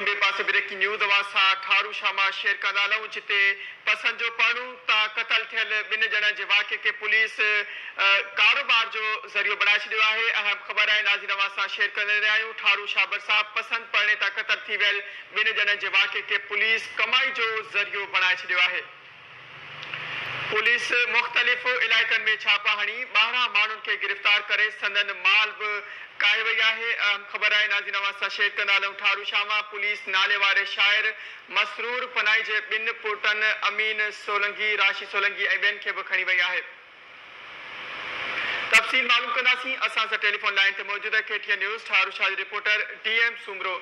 ٻئي پاسي breaking news اوهان سان ٺارو شاما شيئر ڪندا هلون جتي پسند جو پڙهون ته قتل ٿيل ٻن ڄڻن جي واقعي کي پوليس ڪاروبار جو ذريعو بڻائي ڇڏيو آهي اهم خبر آهي ناظرين اوهان سان شيئر ڪندي رهيا آهيون ٺارو شابر صاحب پسند پڙهڻي تان قتل ٿي ويل ٻن ڄڻن جي واقعي کي پوليس ڪمائي جو ذريعو بڻائي ڇڏيو آهي. پوليس مختلف علائقن ۾ ڇاپا هڻي ٻاهران ماڻهن کي گرفتار ڪري سندن مال به ڪاهي وئي آهي اهم خبر آهي ناظرين اوهان سان شيئر ڪندالون ٺارو شاما پوليس نالي واري شاعر مسرور پناهي جي ٻن پٽن امين سولنگي راشي سولنگي ۽ ٻين کي به کڻي وئي آهي تفصيل معلوم ڪنداسين اسان سان ٽيليفون لائين تي موجود آهي K T N news Tharu Shah جي reporter D M Soomro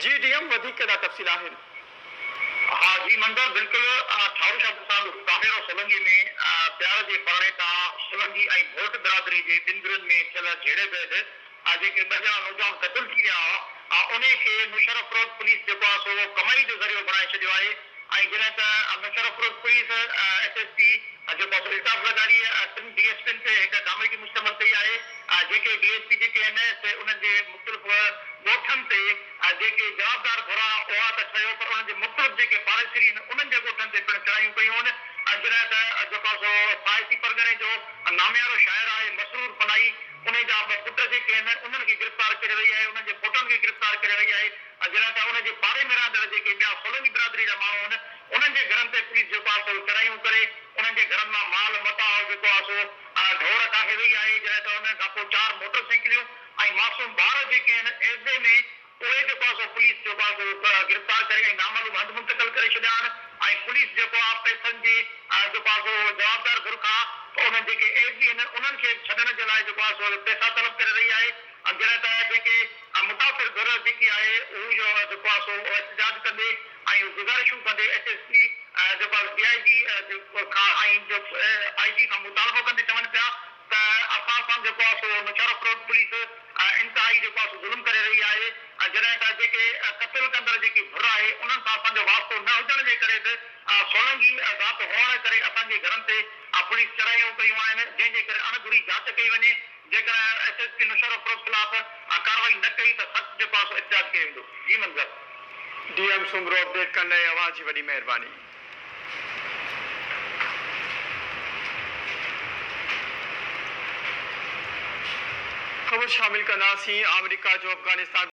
ji D M وڌيڪ ڪهڙا تفصيل آهن. ها جي منظر بلڪل ٺارو شاهه سان ڪاميرو سولنگي ۾ پيار جي پرڻي تان سولنگي ۽ ڀوٽ برادري جي ٻن گرين ۾ ٿيل جهيڙي بعد آ جيڪي ٻه ڄڻا نوجوان قتل ٿي ويا ھئا آ انھي کي مشرف روڊ پوليس جيڪو آ سو ڪمائي جو ذريعو بڻائي ڇڏيو آھي ۽ جڏھن ته Musharraf road police S S P جيڪو آ سو الطاف زرداري ٽن ڊي ايس پين تي ھڪ ڪاميٽي مشتمل ڪئي آھي آ جيڪي ڊي ايس پي جيڪي ھن سي انھن جي مختلف ڳوٺن تي آ جيڪي جوابدار گھرا ھئا ته ٺھيو پر انھن جي مختلف جيڪي پاڙيسري ھن انھن جي ڳوٺن تي پڻ چڙھايون ڪيون ھن آ جڏھن ته جيڪو آ سو سائتي پرڳڻي جو ناميارو شاعر آھي مسرور پناھي انهن جا ٻه پٽ جيڪي آهن انهن کي گرفتار ڪري وئي آهي انهن جي پوٽن کي گرفتار ڪري وئي آهي ۽ جڏهن ته ان جي پاڙي ۾ رهندڙ جيڪي ٻيا سولنگي برادري جا ماڻهو آهن انهن جي گهرن تي پوليس جيڪو آهي سو چڙهايون ڪري انهن جي گهرن مان مال متاع جيڪو آهي سو ڍور ڪاهي وئي آهي جڏهن ته انهن کان پوء چار موٽر سائيڪليون ۽ معصوم ٻار جيڪي آهن ايذي ۾ اهي جيڪو آ سو پوليس جيڪو آ سو گرفتار ڪري ۽ نامعلوم هنڌ منتقل ڪري ڇڏيا آهن ۽ پوليس جيڪو آ پئسن جي جيڪو آ سو جوابدار ڌر کان انهن جيڪي ايس بي هن انهن کي ڇڏڻ جي لاء جيڪو آ سو پئسا طلب ڪري رهي آهي جڏهن ته جيڪي متاثر ڌر جيڪي آهي هو جيڪو آ سو احتجاج ڪندي ۽ گذارشون ڪندي ايس ايس پي جيڪو آ سو ڊي آء جي کان ۽ آء جي کان مطالبو ڪندي چون پيا ته اسان سان جيڪو آهي سو نوشهرو روڊ پوليس انتهائي جيڪو آهي سو ظلم ڪري رهي آهي ۽ جڏهن ته جيڪي قتل ڪندڙ جيڪي ڌر آهي انهن سان اسان جو واسطو نه هجڻ جي ڪري به سولنگي ذات هئڻ ڪري اسان جي گهرن تي پوليس چڙهايون ڪيون آهن جنهن جي ڪري اڻ گهري جاچ ڪئي وڃي جيڪڏهن S S P Naushahro road خلاف ڪارروائي نه ڪئي ته سخت جيڪو آهي سو احتجاج ڪيو ويندو جي منظر. ڊي ايم سومرو اپڊيٽ ڪرڻ لاء اوهان جي وڏي مهرباني. خبر شامل ڪنداسين، آمريڪا جو افغانستان